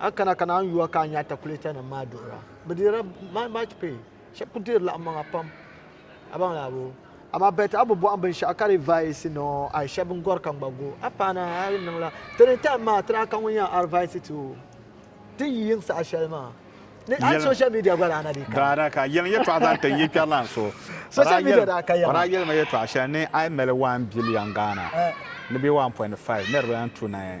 A kana ka naan yuwa ka a nya atakulɛtanima maa duɣira. Bɛ deerila my much pay. Shɛba kuli deeri laɣimmaŋa pam. A baŋ li Abu. Amaa bɛ ti a bi bɔhim binshɛɣu ka di vaisi ni o ai shɛba n gɔri ka ŋ gba go. A paana a yi niŋla ti ni time maa ti daa ka ŋun yɛn arvaisi ti o ti yi yiŋ saha shɛli maa. Ni a social media gba daa na dii kana. Daa na ka. Yɛliŋ yɛtɔɣa zaŋ ti n yi kpɛri lan so. Social media daa ka yɛma. O daa yɛli ma yɛtɔɣa shɛli ni ai mali one billion Ghana ni bɛ one point five niriba n tu ni.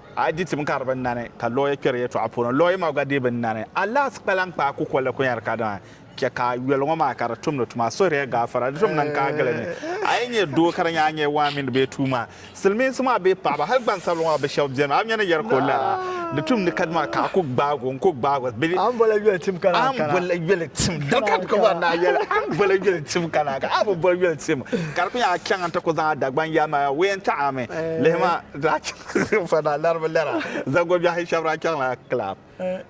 A yi di tim ka di bi nani, ka lɔɔya kpɛri yɛtɔɣa puuni, lɔɔya maa gba dii bi nani. A lahi kpalan kpaai kukolli kunyari kadama chɛ ka a yoli ŋɔ maa ka di tumdi tuma. Suhiri ya gaafara, di tom niŋ ka a gili ni a yi nyɛ doo ka di nyɛ a nyɛ waa mini bee tuuma. Silimiinsi maa bee paɣiba, hali gbansabila ŋɔ bɛ shɛba beni, a mi ni yɛri ka o lara, di tumdi kadama ka a ku gbaag o n-ku gbaag o bee a ni boli yoli tim ka naa kana. A ni boli yoli tim ka naa kana. A bi boli yoli tim ka di ku nya a chaŋ nti ku zaŋ a Dagbaŋ yaami a ween taɣi a mi. Lihima, daa chaŋ. Fana laribu lɛra zagobiɛhi shɛba daa chaŋla kilab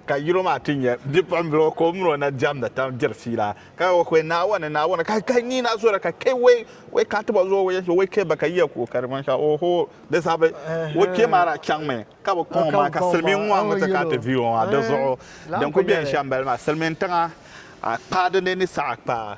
ka yino maa ti nyɛ bipuɣimbila o ka o mini o na diɛmdi tam diri fiila ka o kpe Naawuni Naawuni ka ka nyin na zora ka kpe wei wei ka ti bɔ zuɣu wei so wei kpe ba ka yiya kuɣu ka di manshɛɣu oho di zabi o kpe maa daa chaŋmi ka bi kɔŋ o maa ka silimiin ŋɔ mi ti kana ti vi o maa di zuɣu din kuli beni shɛm bali maa silimiin tiŋa a kpaa dini ni saha kpaa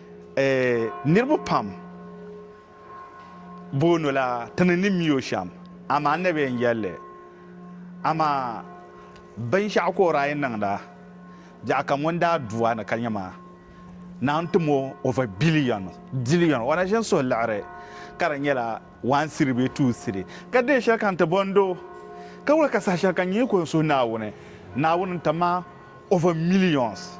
Niriba pam boonila ti ni ni mi o shɛm, amaa Annabi yɛn yɛli li, Amaa binshɛɣu ka o daa yɛn niŋda, biɛɣu ka ŋun daa du a ni ka nya ma, naan tim o over billion, dillion, o na ʒin suhi liɣiri ka di nyɛla one cedi bee two cedi, ka deei shɛli ka n ti bɔn doo, ka wula ka saha shɛli ka n yi ko n suhi Naawuni, Naawuni n-ti ma over millions.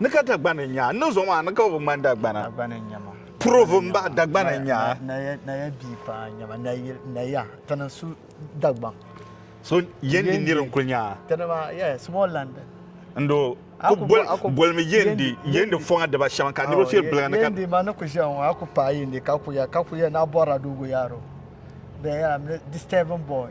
Ni ka Dagbani n-nya a, ni zuɣu maa ni ka o bi ŋmani Dagbana. Dagbani n-nya ma. Purovo m-bahi Dagbani n-nya a. Naya, Naya bia paa n-nya ma. Nayil, Naya, ti ni su Dagbaŋ. So Yendi nir n-kul nya a? Ti ni maa, yeah, small land. N-do, a ku boli, bolimi Yendi, Yendi fɔŋa diba shɛm ka niriba shiri biliga ni ka. Yendi ma ni ku ʒiya ŋɔ, a ku paai Yendi ka ku ya, ka ku ya ni a bɔrila Dogoyaro. Then, yeah, disturb boy.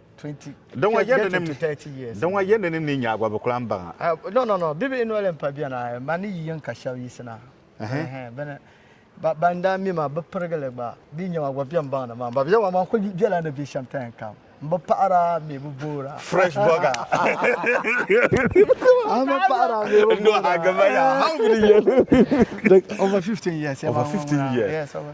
Di ŋɔ yɛndi ni ni nyaagba bi kulaŋ baŋa. Ah, no, no, no, bibihi noli mpa bɛni, ah, ma ni yi yɛn ka shɛba yisina. Bɛni, ban daa mi ma, bi pirigili gba, bɛ nya ma gba bɛn baŋ ni ma, ba bɛ wa, ma kuli bɛla ni bɛ shɛm ta yɛn kam. M bi paɣira, m mi bi boora. Fresh burger. M bi paɣira, m mi bi boora. Over 15 years. Over 15 years. Yes, over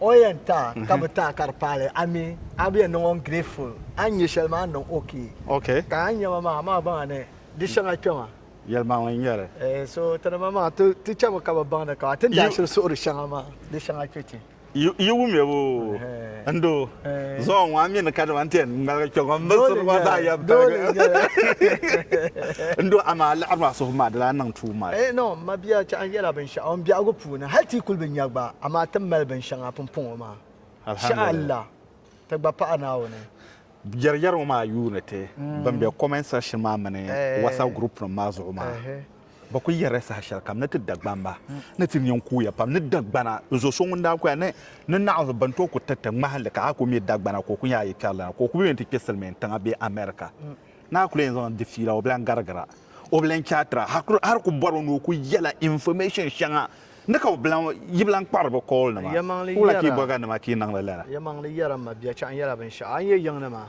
O yɛn ta ka bi ta ka di paali a mi a bi yɛn niŋ o ungrateful a ni nyɛ shɛli maa a ni niŋ okay ka a ni nyɛma maa a maa baŋ ni di shɛŋa kpɛma yɛlimaŋli n-nyɛli eh so ti ni ma maa ti chɛmi ka bi baŋ ni ka ti ni daa shiri suhuri shɛŋa maa di shɛŋa kpɛ ti yi wumya boo n doo. zuɣu ŋɔ a mi ni ka dama ti yɛn ŋmaligi kpɛ ŋɔ n mali suri ŋɔ zaa yɛm paligi n do amaa liɣiri maa suhu maa di daa niŋ tuum maa eh no ma bia chɛ an yɛla binshɛɣu n biɛhigu puuni hali ti yi kuli bi nya gba amaa ti mali binshɛŋa pumpɔŋɔ maa shɛha Allah ti gba paɣi Naawuni jɛrijɛri ŋɔ maa yuuni ti ban be comment section maa mini whatsapp group nim maa zuɣu maa. bɛ kul yɛrila saha shɛli kam ni ti Dagbani ba ni ti nya n-kuuya pam ni Dagbana zo so ŋun daa kuya ni ni naɣinsi bɛn tooi ku tiriti ŋmahinli ka a ku mi Dagbana ka o ku nya a yi kpɛri lana ka o ku bi yɛn ti kpe Silimiin tiŋa bee America ni a ku lee yɛn zaŋ di fiila o bi lan garigira o bi lan chaatira hali ku bɔriba ni o ku yɛla information shɛŋa ni ka o bi lan yi bi lan kpahiri bɛ call nima wula ka yi bɔri ka nima ka yi niŋdi lala. Yɛlimaŋli yɛra m ma biɛchɛɣu nyɛla binshɛɣu a ni yɛn yiŋ ni maa.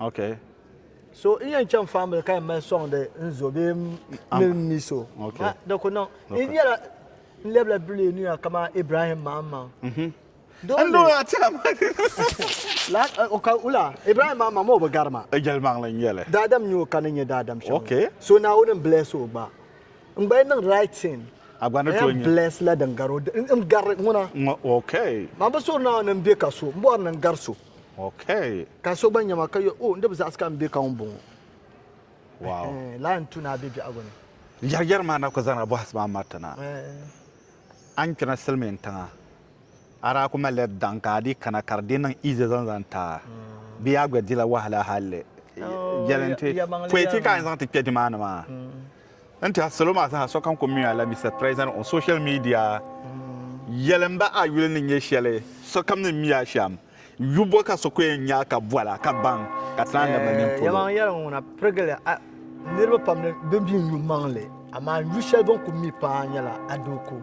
Okay. So n yɛn chaŋ faamili ka yɛn mali sɔŋdi n zo bee m mil n mi so. Okay. Ha, di ku niŋ. N Okay. nyɛla n lɛbila duli niya kaman Ibrahim maŋmaŋ. N Dole, doo maa tila ma. la, o ka wula, Ibrahim maŋmaŋ maa o bi gari ma. Jɛlimaŋli n nyɛli. Daadam n-nyɛ o ka ni nyɛ daadam shɛm. Okay. So Naawuni n-bless o gba. N gba yɛn niŋ right thing. A gba ni N tooi yɛn nyɛ. bless la din gari o. N, n gari ŋuna. Ŋ- Okay. Man bi suhiri Naawuni ni m be ka so. M bɔri ni n gari so. Okay. Ka so gba nya ma ka yɔ, oh, n di bi zaɣisi ka m be ka ŋun bɔŋɔ. Wow. Ɛhɛn, laa n tu ni a be biɛhigu ni. Yɛri yɛri maa na ku zaŋla bɔhisi maa mariti na. Ɛhɛn. A ni kpina silimiin tiŋa, a daa ku malila daŋ ka a dii kana ka di dii niŋ easy zaŋ zaŋ ti a. Bee yaa gba dila wahala halli? Oh, yɛliŋ ti, pɔi ti ka a ni zaŋ ti kpe nimaani maa. N tiɛhi salo maa zaa sokam ku mi a la Mister President on social media yɛli n ba a yuli ni nyɛ shɛli sokam ni mi a shɛm yu bɔ ka so ku yɛn nya a ka bɔla ka baŋ ka ti naan labina nini polo. Yɛlimaŋli yɛligu ŋuna pirigili a niriba pam ni bɛ mi n-yu maŋli amaa n yu shɛli bɛ ni ku mi paa nyɛla a doo ku.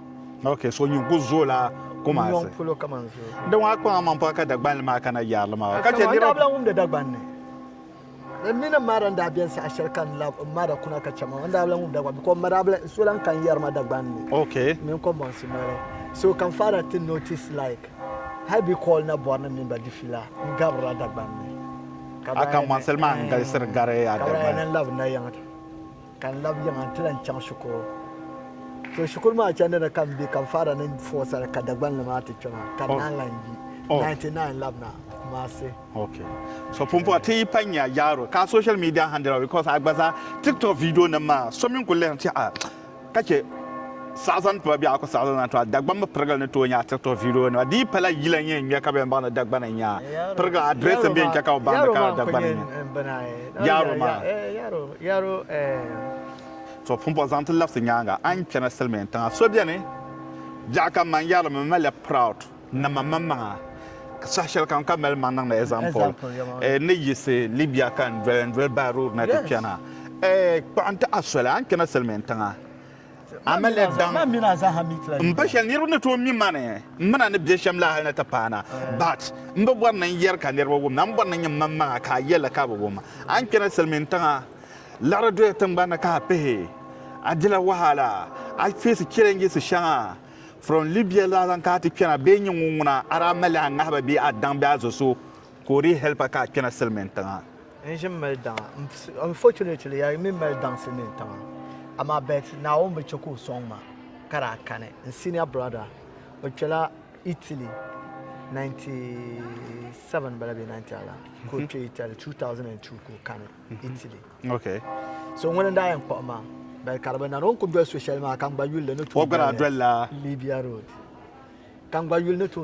Okay, so nyin ku zooi la Kumasi. Nyɔŋ polo kaman zooi. Di ŋɔ a kpaŋ a maŋ pɔi ka Dagbanli maa kana yaarili maa. Ka chɛ niriba. N daa bi lan wumdi Dagbanli. Di mini m ma daa n-daa beni saha shɛli ka n lab m ma da kuna ka chɛ maa, n daa bi lan wumdi Dagbanli because m ma daa bi lan, so lan kan yɛri ma Dagbanli. Okay. Mini Kɔmbɔnsi noli. So ka m father ti notice like hali bɛ call na bɔri ni m mini ba di fila n gabirila Dagbanli. A Kambɔnsili maa n-galisiri gari a Dagbanli. Ka bɛ daa yɛn niŋ lab nayiŋ. Ka n lab yiŋa nti lan chaŋ shikuru. To shikuru maa chandi ni ka m be ka m faara ni fɔɔsiri ka Dagbanli maa ti kpe maa ka n naan lan yi 99 lab na Kumasi. Ok. So pumpɔŋɔ ti yi pa nya Jaaro ka a social media handle maa because a gba zaa tiktok video nim maa so mi n kuli lihiri ti a ka che saɣa zaŋ tiba bee a ku saɣa zaŋ tiba Dagban mi pirigili ni tooi nya a tiktok video nima di yi pala yila n yɛn ŋmɛ ka bɛn baŋ ni Dagban n nya pirigili address n bɛn che ka o baŋ ni ka Dagban n nya Jaaro maa. Yaro eh. To pumpɔ zaŋ ti labisi nyaaŋa a ni chana silimiin tiŋa so beni biɛɣu ka man yaro mi maliya proud nama man maŋa saha shɛli kam ka mali maŋ niŋdi example eh, ni yiɣisi Libya ka n doli n doli by road na ti chana eh, kpuɣi n ti a soli a ni chana silimiin tiŋa Amalek daŋ m ba shɛli niriba ni tooi mi ma ni m mi na ni bɛ shɛm la hal ni ti paana. But m bi bɔri ni n yɛri ka niriba wum na, m bɔri ni n nyɛ mmaŋmaŋa ka a yɛl li ka bɛ wum. A ni kpɛri silimiintiŋa, liɣiri doya tiŋgbani ni ka a pihi. A dila wahala, a feesi chɛlɛnjisi shɛŋa from Libya la zaŋ ka a ti kpɛna bee nyɛ ŋun ŋuna a daa mali a ŋahiba bee a daŋ bee a zo so ka o dii hɛlipa ka a kpɛna silimiintiŋa. N ʒimi mali daŋa. Unfortunately, yaa yi mi mali daŋ Silimiin tiŋa. Amaa but Naawuni bi chɛ ka o sɔŋ ma ka daa kani. N senior brother, o kpɛla Italy 97 m-bala bee 90 ala ka o kpe Italy, 2002 ka o kani Italy. Okay. So ŋuni n-daa yɛn kpuɣi ma but ka di bi nani. O ni kul doli so shɛli maa ka n gba yuli li ni tooi doli li Libya road.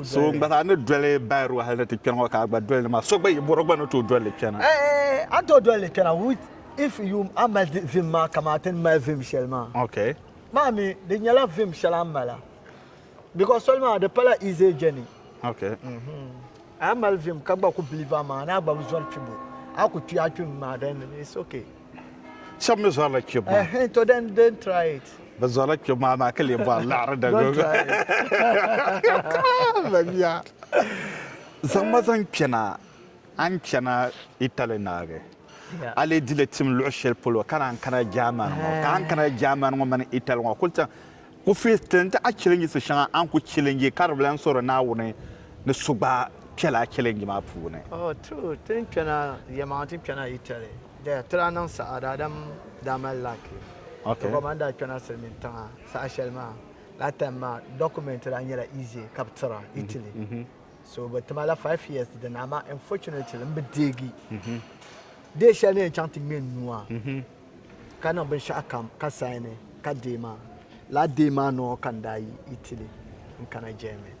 So gba zaa ni doli Bairua hali ni ti kpɛri ŋɔ ka a gba doli ni maa, so gba yi bɔro gba ni tooi doli li kpɛna. A ni tooi doli li kpɛna with if you a mali vim maa kaman ti ni mali vim shɛli maa. Okay. Maa mi di nyɛla vim shɛli a ni mala because soli maa di pala easy journey. Okay. A mali vim ka gba ku believe a maa ni a gba bi zɔri kpibu a ku kpi a kpim maa then it's okay. Shɛba mi zɔrila kpibu maa. Uh, to then don't try it. Bɛ zɔrila kpibu maa maa ka lee bɔri laɣiri da Don't try it. Mamiya. Zaŋ ma zaŋ kpɛna a ni chana Italy naagi. Yeah. A lee di li tim luɣ shɛli polo ka naan kana German ŋɔ. Ka a ni kana German ŋɔ mini Italy ŋɔ kuli chaŋ ku face ti ni ti a challengisi shɛŋa a ni ku challenge ka di bi lan sɔri Naawuni ni so gba kpɛla challenge maa puuni. Oh, true. Ti ni kpɛna, yɛlimaŋli ti ni kpɛna Italy. Daya ti daa niŋ saha daadam daa mali laaki ti gba ban daa kpɛna silimiin tiŋa saha shɛli maa. Laa time maa document daa nyɛla easy ka bɛ tira Italy so bɛ tima la five years dini amaa unfortunately m bi deegi day shɛli ni yɛn chaŋ ti ŋme n nua ka niŋ binshɛɣukam ka saini ka day maa. Laa day maa nɔɔ ka n daa yi Italy n kana Germany.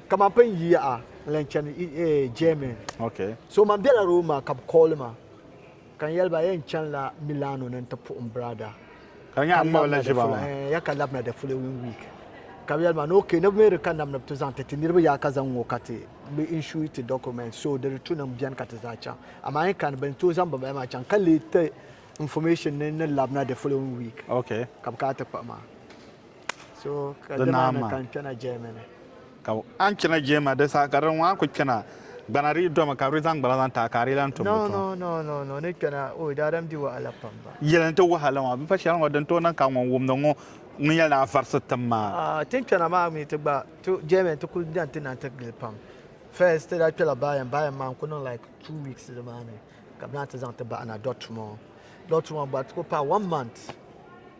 ka man pun yi yaha n-lan chani Germany. So man bela Roma ka bɛ kooli ma ka n yɛli ba yɛn chanila Milano ni nti puhim biraada ka labina the following week. Ka bɛ yɛli ma ni okay ni bɛ mi di ka nam ni bɛ ti zaŋ ti ti niriba yaha ka zaŋ ŋ-ŋɔ ka ti bɛ insure ti documents so di return-nim beni ka ti zaa chaŋ. Amaa n kani bɛ ni tooi zaŋ bimbala maa chaŋ ka leei ti information ni ni labina the following week ka bɛ kana ti kpuɣi ma. di naa maa. Ka a ni chana jɛma di saha ka di ŋɔ a ku kpɛna gbana di yi domi ka bɛ di zaŋ gbana zaŋ taai ka a di yi lan tum bi tɔm. Yɛli n-ti wahala maa, bɛ pa shɛli ŋɔ din tooi niŋ ka ŋun wumdi ŋɔ ŋun yɛli ni a varisi tim maa.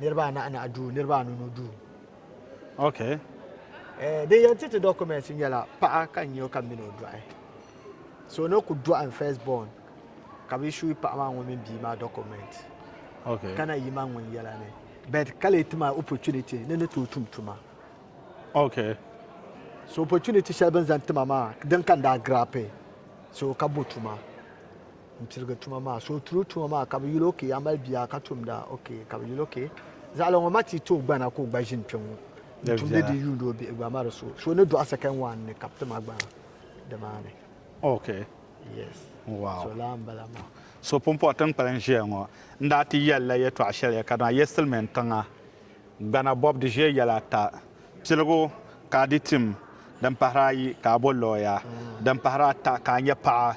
niriba anahi anahi duu niriba anu nu duu okay eh, din yɛn ti ti documents nyɛla paɣa ka n nyɛ o ka mini o dɔɣi so ni ku dɔɣi n first born ka bi shui paɣa maa ŋun mini bia maa document okay kana yi ma ŋun yɛla ni but ka lee ti ma opportunity ni ni tooi tum tuma okay so opportunity shɛli bin zaŋ tima maa din ka n daa grape so ka bo tuma n pirigi tuma maa so o turo tuma maa ka bi yuli okee a mali bia ka tumda okee ka bi yuli okee zaɣala ŋɔ ma ti tooi gbana ka o gba ʒini kpɛŋŋɔ n tumdi di yuundi o bihi gba ma di so so ni dɔɣi second one ni ka bi ti ma gbana di maa ni okee yes so laa n bala maa so pumpɔɣu ti ni kpalim ʒiya ŋɔ n daa ti yɛli la yɛtɔɣa shɛli ya ka dama ya silimin tiŋa gbana bɔbu di ʒiya yɛla ata piligu ka a di tim din pahiri ayi ka a bo lɔya din pahiri ata ka a nyɛ paɣa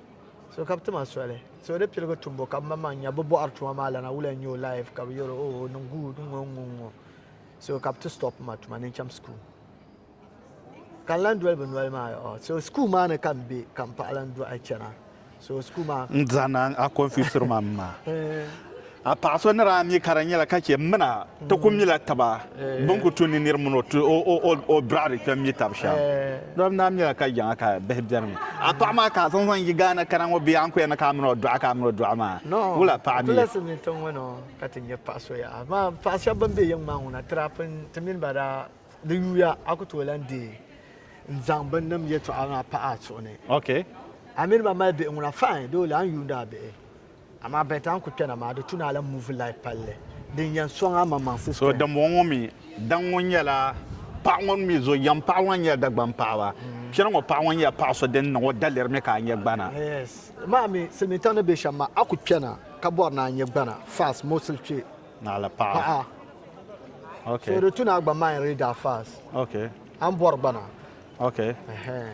so ka bi ti ma soli so di piligu tumbu ka ma maŋ nya bi bɔhiri tuma maa lana wula n-nyɛ o life ka bi yɛro o oh, niŋ good ŋɔ ŋɔ ŋɔ so ka bi ti stop ma tuma ni n cham school ka n lan doli bi noli maa oh, so school maa ni ka n be ka m paɣa lan dɔɣi chana so school maa n zahina a confusiri ma m ma eh. A paɣa so ni daa mi ka di nyɛla ka chɛ m mina ti ku mila taba bɛ ni ku tu ni nir mini o ti o biradi kpɛm mi tab shɛm. Doli n daa mila ka jaŋa ka bihi beni mi. A paɣa maa ka a zaŋ zaŋ yi Ghana kana ŋɔ bee a ni ku yɛn ni ka a mini o dɔɣi ka a mini o dɔɣi maa wul a paɣa mi? Tulesi ni tiŋ ŋɔ ka ti nya paɣa so yaha amaa paɣa shɛba bɛn be yiŋ maa ŋɔ na tirapin ti mini ba daa di yuuya a ku tooi lan deei n zaŋ binnim yɛtɔɣa maa pahi a suhu ni. Ok. A mini ba mali bihi ŋuna fine dole a ni yuuni a bihi. Amaa bɛn ta n-kul kpɛna maa, di tu ni a lan muvi lahi palli. Din yɛn sɔŋ a maŋmaŋsi soli. Dimbɔŋɔ mi, daŋ ŋɔ nyɛla paɣ ŋɔ ni mi zo yɛm paɣ ŋɔ n-nyɛ Dagbaŋ paɣiba. Kpɛna ŋɔ paɣ ŋɔ nyɛla paɣ so din niŋ o daliri mi ka a nyɛ gbana. Yes. Amaa mi, silimiintiŋ ni be shɛm maa, a ku kpɛna ka bɔri ni a nyɛ gbana fast mostly kpe. Naɣila paɣa. Ok. So di tu ni a gba mind reader fast. Ok. A ni bɔri gbana. Ok. Ɛhɛɛn.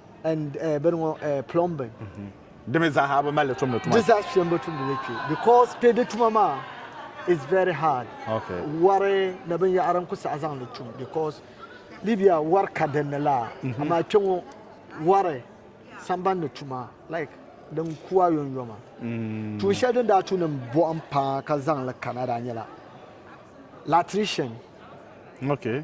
and uh, bini ŋɔ uh, plumbing mm-hmm. di mi zaaha bi mali tumdi tuma di zaa shɛm bi tumdi li kpe because kpe di tuma maa is very hard okay. wari ni binyɛhari n ku saɣa zaŋ li tum because libya wari ka din ni la mm-hmm. amaa kpe ŋɔ wari samban ni tuma like din kuwa yɔnyɔma mm. tuun shɛli din daa tu ni bɔhim paa ka zaŋ li kana daa nyɛla latrician okay.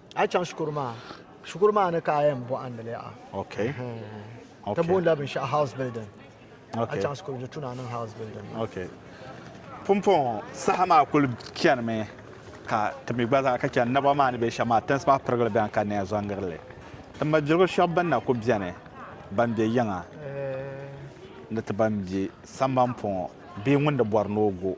A chaŋ shikuru maa shikuru maa ni ka a yɛn bɔhindi li yaha. Okay. Okay. Ti boonila binshɛɣu house building. Okay. A chaŋ shikuru di tuna niŋ house building. Okay. Pumpɔŋɔ saha maa kuli chani mi ka ti mi gba zaa ka chani naba maa ni bɛ shɛm maa tinsi maa pirigili bɛni ka neya zɔngiri li. Ti mabiligu shɛb bɛn na ku bɛni ban bɛ yiŋa ni ti ban bɛ samban pɔŋɔ bee ŋun di bɔri ni o go.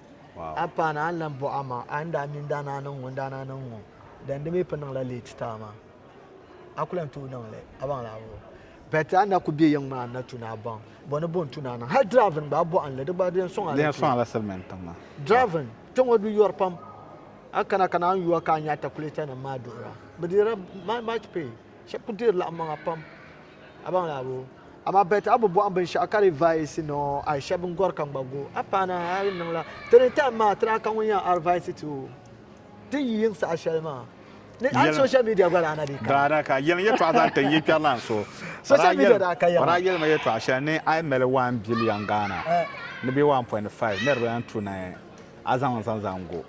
Wow. A paana a ni lan bɔh a ma, a ni daa mi n daa naa niŋ ŋun daa naa niŋ ŋɔ, then di mi pun niŋla late taa maa. A ku lan tooi niŋ li, a baŋ li a bi baŋ. But a ni na ku be yiŋ maa a ni na tu ni a baŋ, bɔ ni bo n-tu ni a niŋ. Hal driving gba a bɔhim li, di gba di yɛn sɔŋ a Di yɛn sɔŋ a la silimiin tiŋ maa. Driving kpe ŋɔ bi yɔri pam. A kana ka naan yuwa ka a nya atakulatanim maa duhira. Bi deerila much pay. Shɛba ku deeri laɣimmaŋa pam. Amaa bɛ ti a bi bɔhim binshɛɣu ka di vaisi ni o a shɛba n gɔri ka n gba go. A paana a yi niŋla ti ni taim maa ti daa ka ŋun yɛn arvaisi ti o ti yi yiŋ saha shɛli maa. Ni a ni social media gba daa na dii kana. Daa na ka. Yɛliŋ yɛtɔɣa zaŋ ti n yi kpɛri lan so. Social media daa ka yɛm. O daa yɛlima yɛtɔɣa shɛli ni a yi mali one billion Ghana ni bɛ one point five niriba yɛn tu ni a zaŋ n zaŋ zaŋ go.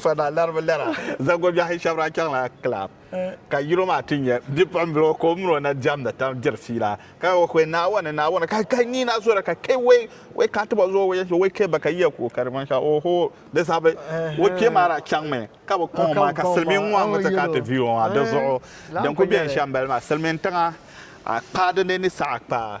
Fana laribu lɛra zagobiɛhi shɛba daa chaŋla kilab ka yino maa ti nyɛ bipuɣimbila o ka o mini o na diɛmdi tam diri fiila ka o kpe Naawuni Naawuni ka ka ni na zora ka kpe wei wei ka ti bɔ zuɣu wei so wei kpe ba ka yiya ku ka di manshɛɣu oho di sabi o kpee maa daa chaŋmi ka bi kɔŋ o maa ka silimiin ŋɔ mi ti kana ti vi o maa di zuɣu din ku beni shɛm bali maa silimiin tiŋa a kpaa dini ni saha kpaa